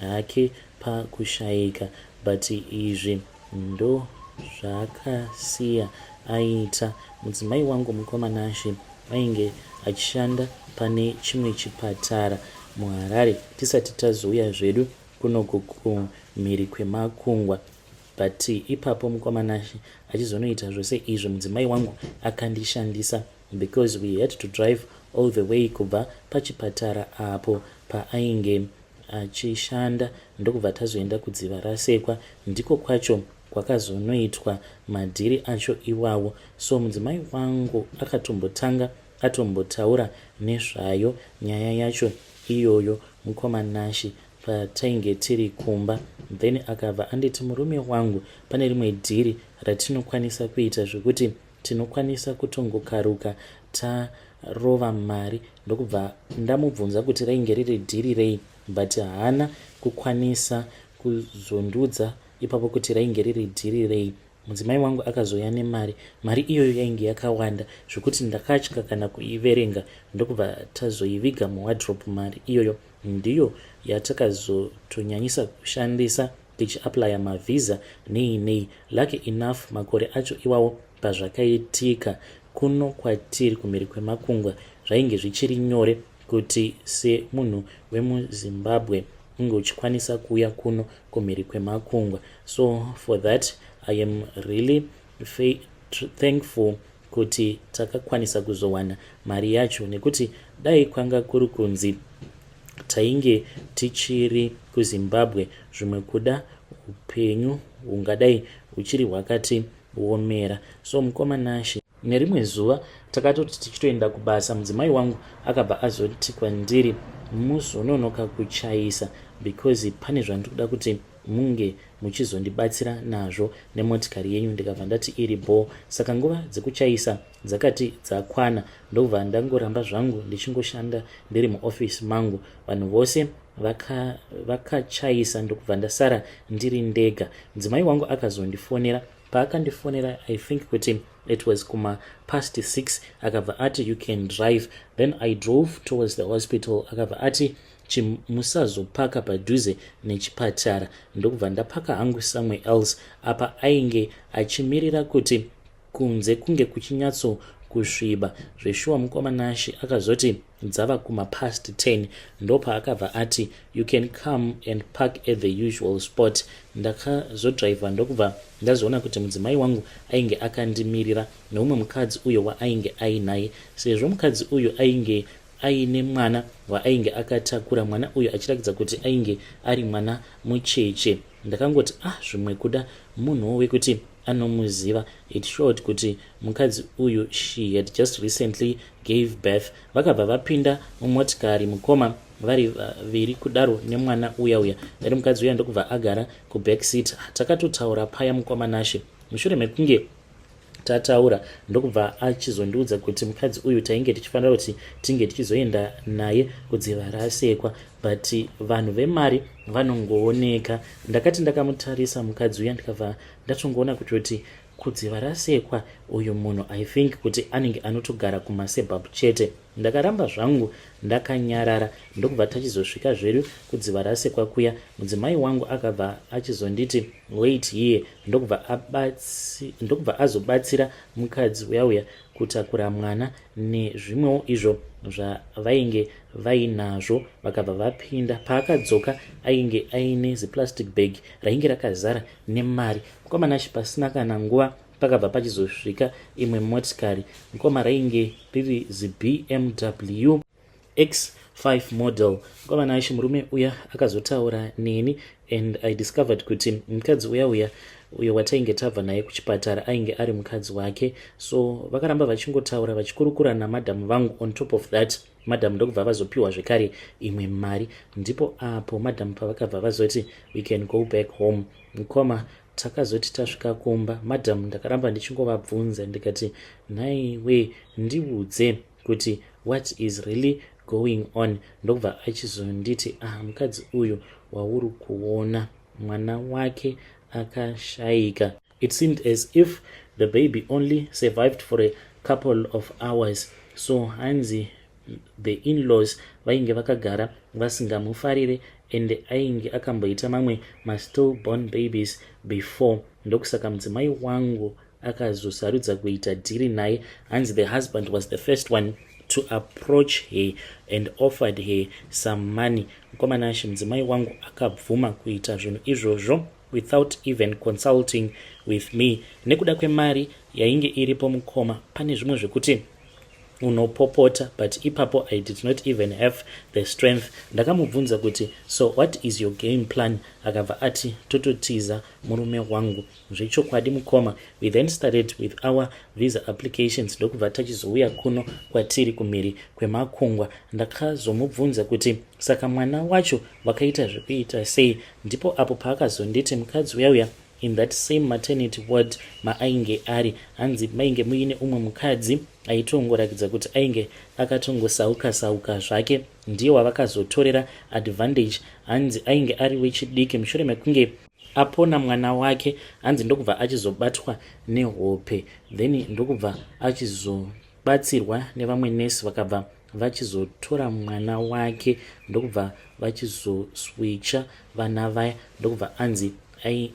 hake pakushaika but izvi ndozvaakasiya aita. Mudzimai wangu mukoma Nashe ainge achishanda pane chimwe chipatara muHarare tisati tazouya zvedu kunoku kumhiri kwemakungwa but ipapo mukoma Nashe achizonoita zvose izvi mudzimai wangu akandishandisa because we had to drive all the way kubva pachipatara apo paainge achishanda ndokubva tazoenda kudziva rasekwa ndiko kwacho kwakazonoitwa madhiri acho iwawo so mudzimai wangu akatombotanga atombotaura nezvayo nyaya yacho iyoyo mukoma Nashi patainge tiri kumba then akabva anditi murume wangu pane rimwe dhiri ratinokwanisa kuita zvekuti tinokwanisa kutongokaruka tarova mari ndokubva ndamubvunza kuti rainge riri dhiri rei but haana kukwanisa kuzondiudza ipapo kuti rainge riri dhiri rei mudzimai wangu akazouya nemari mari iyoyo yainge yakawanda zvekuti ndakatya kana kuiverenga ndokubva tazoiviga muwadrop mari iyoyo ndiyo yatakazotonyanyisa kushandisa ndichiaplaya mavhiza nei nei lucky enough makore acho iwawo pazvakaitika kuno kwatiri kumhiri kwemakungwa zvainge zvichiri nyore kuti semunhu wemuzimbabwe unge uchikwanisa kuuya kuno kumhiri kwemakungwa so for that i am really Fe, thankful kuti takakwanisa kuzowana mari yacho nekuti dai kwanga kuri kunzi tainge tichiri kuzimbabwe zvimwe kuda upenyu hungadai huchiri hwakati womera so mukoma nashe nerimwe zuva takatoti tichitoenda kubasa mudzimai wangu akabva azoti kwandiri muzononoka kuchaisa because pane zvandiri kuda kuti munge muchizondibatsira nazvo nemotikari yenyu ndikabva ndati iri bho saka nguva dzekuchaisa dzakati dzakwana ndobva ndangoramba zvangu ndichingoshanda ndiri muofisi mangu vanhu vose vakachaisa vaka ndokubva ndasara ndiri ndega mudzimai wangu akazondifonera paakandifonera i think kuti it was kuma past six akabva ati you can drive then i drove towards the hospital akabva ati Chim, musazopaka padhuze nechipatara. Ndokubva ndapaka hangu somewhere else. Apa ainge achimirira kuti kunze kunge kuchinyatso kusviba zveshuwa mukoma nashe akazoti dzava kumapast 10 ndopaakabva ati you can come and park at the usual spot ndakazodrivha ndokubva ndazoona kuti mudzimai wangu ainge akandimirira neumwe mukadzi uyo waainge ainaye sezvo mukadzi uyu ainge aine mwana waainge akatakura mwana uyu achirakidza kuti ainge ari mwana mucheche ndakangoti ah zvimwe kuda munhuwo wekuti anomuziva it showed kuti mukadzi uyu she had just recently gave birth vakabva vapinda mumotikari mukoma vari vaviri kudaro nemwana uya uya ari mukadzi uya ndokubva agara kuback seat takatotaura paya mukoma nashe mushure mekunge tataura ndokubva achizondiudza kuti mukadzi uyu tainge tichifanira kuti tinge tichizoenda naye kudziva raasekwa but vanhu vemari vanongooneka ndakati ndakamutarisa mukadzi uya ndikabva ndatongoona kuti kuti kudziva rasekwa uyu munhu i think kuti anenge anotogara kumasebab chete ndakaramba zvangu ndakanyarara ndokubva tachizosvika zvedu kudziva rasekwa kuya mudzimai wangu akabva achizonditi wait here ndokubva abatsi ndokubva azobatsira mukadzi uya uya kutakura mwana nezvimwewo izvo zvavainge vainazvo vakabva vapinda paakadzoka ainge aine ziplastic bag rainge rakazara nemari mukoma nashe pasina kana nguva pakabva pachizosvika imwe motikari mukoma rainge riri zibmw x5 model kwava naishe murume uya akazotaura neni and i discovered kuti mukadzi uya uya uyo watainge tabva naye kuchipatara ainge ari mukadzi wake so vakaramba vachingotaura vachikurukura namadhamu vangu on top of that madhamu ndokubva vazopiwa zvekare imwe mari ndipo apo madhamu pavakabva vazoti we can go back home mukoma takazoti tasvika kumba madhamu ndakaramba ndichingovabvunza ndikati nhaiwe ndiudze kuti what is really going on ndokubva achizonditi ah mukadzi uyu wauri kuona mwana wake akashaika it seemed as if the baby only survived for a couple of hours so hanzi the inlaws vainge vakagara vasingamufarire ende ainge akamboita mamwe mastillborn babies before ndokusaka mudzimai wangu akazosarudza kuita dhiri naye hanzi the husband was the first one to approach her and offered her some money mukomana ashe mudzimai wangu akabvuma kuita zvinhu izvozvo without even consulting with me nekuda kwemari yainge iripo mukoma pane zvimwe zvekuti unopopota but ipapo i did not even have the strength ndakamubvunza kuti so what is your game plan akabva ati tototiza murume wangu Zvechokwadi mukoma, we then started with our visa applications ndokubva tachizouya kuno kwatiri kumhiri kwemakungwa. Ndakazomubvunza kuti saka mwana wacho vakaita zvekuita sei, ndipo apo paakazonditi mukadzi uya uya in that same maternity ward maainge ari hanzi mainge muine umwe mukadzi aitongoratidza kuti ainge akatongosauka sauka zvake ndiye wavakazotorera advantage hanzi ainge ari wechidiki mushure mekunge apona mwana wake hanzi ndokubva achizobatwa nehope then ndokubva achizobatsirwa nevamwe nurse vakabva vachizotora mwana wake ndokubva vachizoswicha vana vaya ndokubva anzi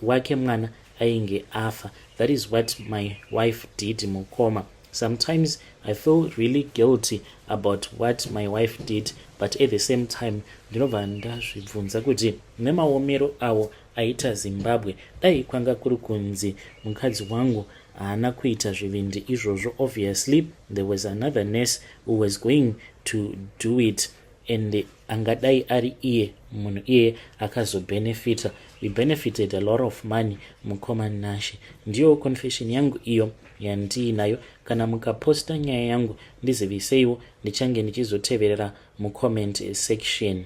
wake mwana ainge afa that is what my wife did mukoma sometimes i feel really guilty about what my wife did but at the same time ndinobva ndazvibvunza kuti Nemaomero awo aita Zimbabwe dai kwanga kuri kunzi mukadzi wangu haana kuita zvivindi izvozvo obviously there was another nurse who was going to do it and angadai ari iye munhu iye akazobenefita we benefited a lot of money mukoma nashe ndiyo confession yangu iyo yandiinayo kana mukaposta nyaya yangu ndiziviseiwo ndichange ndichizoteverera mucomment section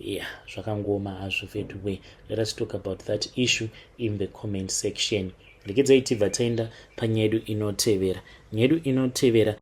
yeah zvakangooma hazvo veduway let us talk about that issue in the comment section regedzai tibva taenda panyaya yedu inotevera nyaya yedu inotevera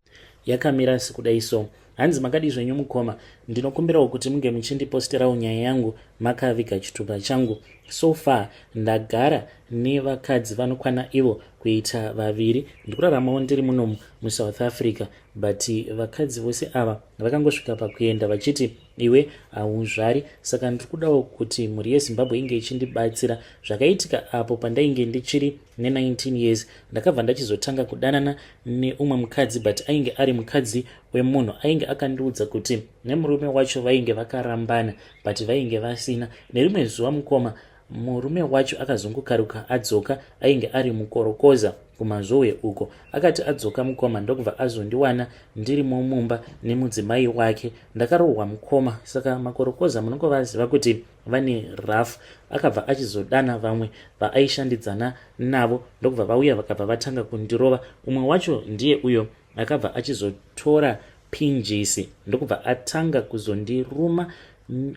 yakamira sekudai so hanzi makadii zvenyu mukoma ndinokumbirawo kuti munge muchindiposterawo nyaya yangu makaviga chitupa changu so far ndagara nevakadzi vanokwana ivo kuita vaviri ndikuraramawo ndiri munomu musouth africa but vakadzi vose ava vakangosvika pakuenda vachiti iwe hauzvari saka ndiri kudawo kuti mhuri yezimbabwe inge ichindibatsira zvakaitika apo pandainge ndichiri ne19 years ndakabva ndachizotanga kudanana neumwe mukadzi but ainge ari mukadzi wemunhu ainge akandiudza kuti nemurume wacho vainge vakarambana but vainge vasina nerimwe zuva mukoma Murume wacho akazongokaruka adzoka ainge ari mukorokoza kuMazvowe uko. Akati adzoka mukoma ndokubva azondiwana ndirimo mumba nemudzimai wake. Ndakarohwa mukoma saka makorokoza munongovaziva kuti vane rough. Akabva achizodana vamwe vaaishandidzana navo ndokubva vauya vakabva vatanga kundirova. Umwe wacho ndiye uyo akabva achizotora pinjisi ndokubva atanga kuzondiruma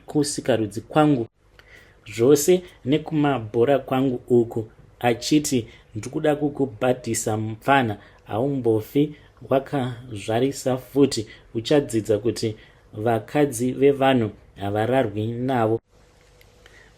kusikarudzi kwangu. zvose nekumabhora kwangu uku achiti ndikuda kukubhadhisa mupfana haumbofi wakazvarisa futi uchadzidza kuti vakadzi vevanhu havararwi navo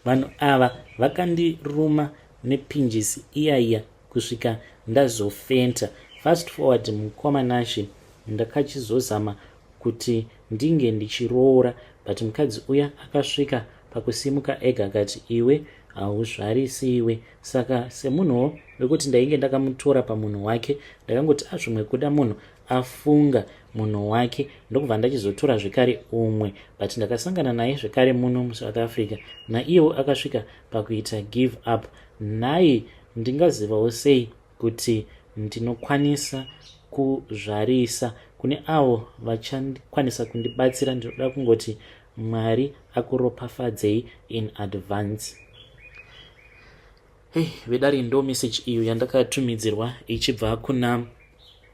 vanhu ava vakandiruma nepinjisi iya iya kusvika ndazofenta fast forward mukoma nashe ndakachizozama kuti ndinge ndichiroora but mukadzi uya akasvika pakusimuka ega akati iwe hauzvarisi iwe saka semunhuwo wekuti ndainge ndakamutora pamunhu wake ndakangoti azvimwe kuda munhu afunga munhu wake ndokubva ndachizotora zvekare umwe but ndakasangana naye zvekare muno musouth africa naiyewo akasvika pakuita give up nhai ndingazivawo sei kuti ndinokwanisa kuzvarisa kune avo vachakwanisa kundibatsira ndinoda kungoti mwari akuropafadzei in advance hey vedari ndo message iyo yandakatumidzirwa ichibva kuna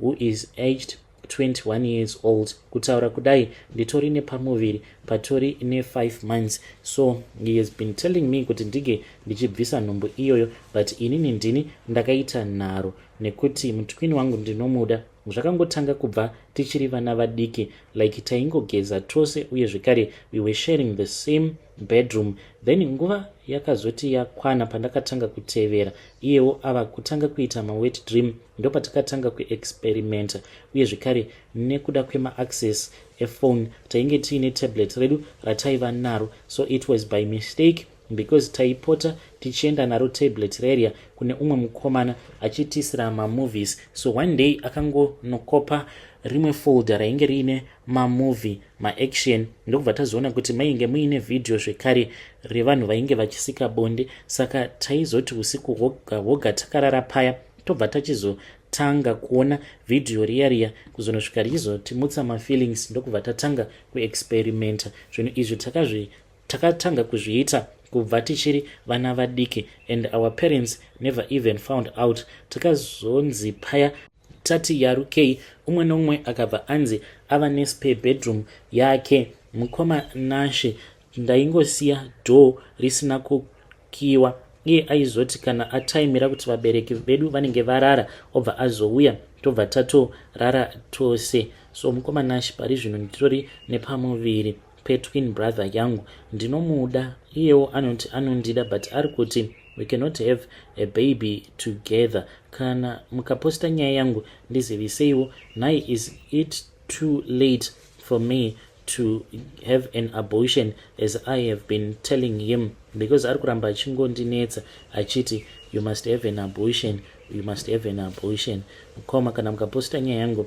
who is aged 21 years old kutaura kudai nditori nepamuviri patori ne5 months so he has been telling me kuti ndinge ndichibvisa nhumbu iyoyo but inini ndini ndakaita nharo nekuti mutwini wangu ndinomuda zvakangotanga kubva tichiri vana vadiki like taingogeza tose uye zvekare we were sharing the same bedroom then nguva yakazoti yakwana pandakatanga kutevera iyewo ava kutanga kuita mawet dream ndopatakatanga kuexperimenta uye zvekare nekuda kwemaaccess ephone tainge tiine tablet redu rataiva naro so it was by mistake because taipota tichienda naro tablet rerya kune umwe mukomana achitiisira mamovies so one day akangonokopa rimwe folder rainge riine mamovie maaction ndokubva tazoona kuti mainge muine vhidhiyo zvekare revanhu vainge vachisika bonde saka taizoti usiku hwoga hwoga takarara paya tobva tachizotanga kuona vhidhiyo riya riya kuzonosvika richizotimutsa mafeelings ndokubva tatanga kuexperimenta zvinhu izvi takazvi takatanga kuzviita kubva tichiri vana vadiki and our parents never even found out takazonzi paya Tati yarukei umwe nomwe akabva anzi ava nespare bedroom yake. Mukoma Nashe ndaingosiya door risina kukiwa iye aizoti kana ataimira kuti vabereki vedu vanenge varara obva azouya tobva tatorara tose. So mukoma Nashe pari zvino nditori nepamuviri. petwin brother yangu ndinomuda iyewo anoti anondida but ari kuti we cannot have a baby together kana mukaposta nyaya yangu ndiziviseiwo nhai is it too late for me to have an abortion as i have been telling him because ari kuramba achingondinetsa achiti you must have an abortion you must have an abortion koma kana mukaposta nyaya yangu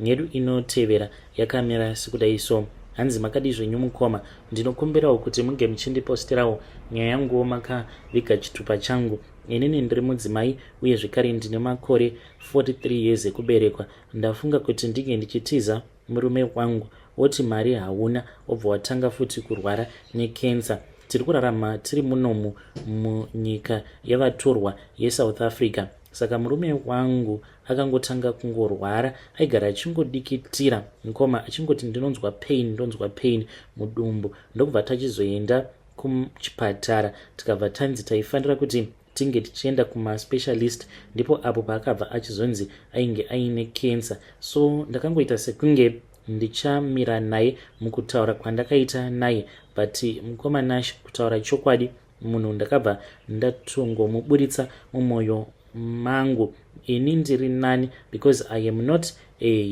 Yedu inotevera yakamira sekudai so. Hanzi makadii zvenyu mukoma, ndinokumbirawo kuti munge muchindipostirawo nyaya yanguwo makaviga chitupa changu. Inini ndiri mudzimai uye zvekare ndine makore 43 years ekuberekwa. Ndafunga kuti ndinge ndichitiza murume wangu woti mari hauna obva watanga futi kurwara necancer. Tiri kurarama tiri munomu munyika yavatorwa yeSouth Africa. Saka murume wangu akangotanga kungorwara aigara achingodikitira mukoma achingoti ndinonzwa pain ndonzwa pain mudumbu ndokubva tachizoenda kuchipatara tikabva tanzi taifanira kuti tinge tichienda kumaspecialist ndipo apo paakabva achizonzi ainge aine cancer so ndakangoita sekunge ndichamira naye mukutaura kwandakaita naye but mukoma nash kutaura chokwadi munhu ndakabva ndatongomuburitsa mumoyo mangu ini ndiri nani because i am not a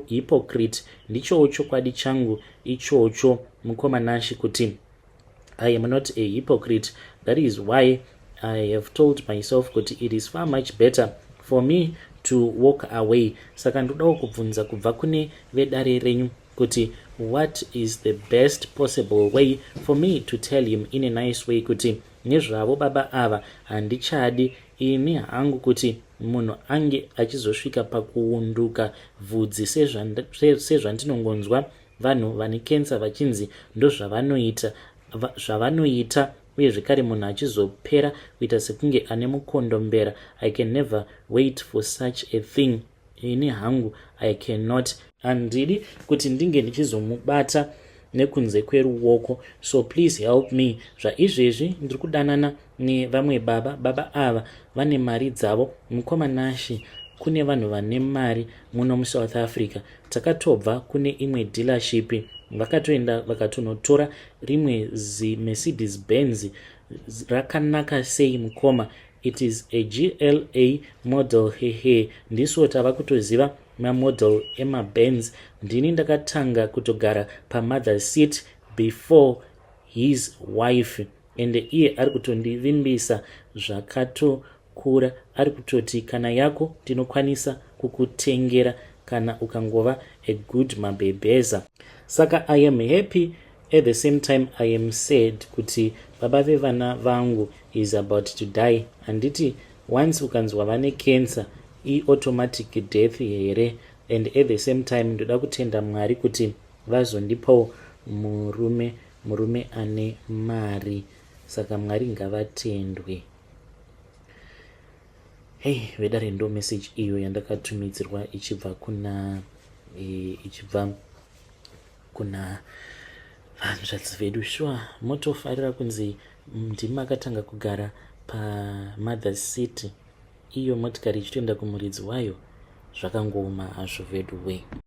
hypocrite ndichowo chokwadi changu ichocho mukoma nashi kuti i am not a hypocrite that is why i have told myself kuti it is far much better for me to walk away saka ndodawo kubvunza kubva kune vedare renyu kuti what is the best possible way for me to tell him in a nice way kuti nezvavo baba ava handichadi ini hangu kuti munhu ange achizosvika pakuunduka vhudzi sezvandinongonzwa vanhu vane kensa vachinzi ndozvavanoita zvavanoita uye zvekare munhu achizopera kuita sekunge ane mukondombera i can never wait for such a thing ini hangu i cannot handidi kuti ndinge ndichizomubata nekunze kweruoko so please help me zvaizvezvi ndiri kudanana nevamwe baba baba ava vane mari dzavo mukoma nashi kune vanhu vane mari muno musouth africa takatobva kune imwe dealership vakatoenda vakatonotora rimwe zimercedes benz rakanaka sei mukoma it is a gla model hehe ndisu tava kutoziva mamodel emabands ndini ndakatanga kutogara pamother seat before his wife ende iye ari kutondivimbisa zvakatokura ari kutoti kana yako tinokwanisa kukutengera kana ukangova a good mabhebheza saka i am happy At the same time I am sad kuti baba vevana vangu is about to die handiti once ukanzwa vane cancer iautomatic death here and at the same time ndoda kutenda mwari kuti vazondipawo murume murume ane mari saka mwari ngavatendwe hei vedare ndo message iyo yandakatumidzirwa ichibva kuna e, ichibva e, kuna hanzvadzi vedu shuwa motofarira kunzi ndimi makatanga kugara pamother city iyo motikari ichitoenda kumuridzi wayo zvakangooma hazvo vedu wee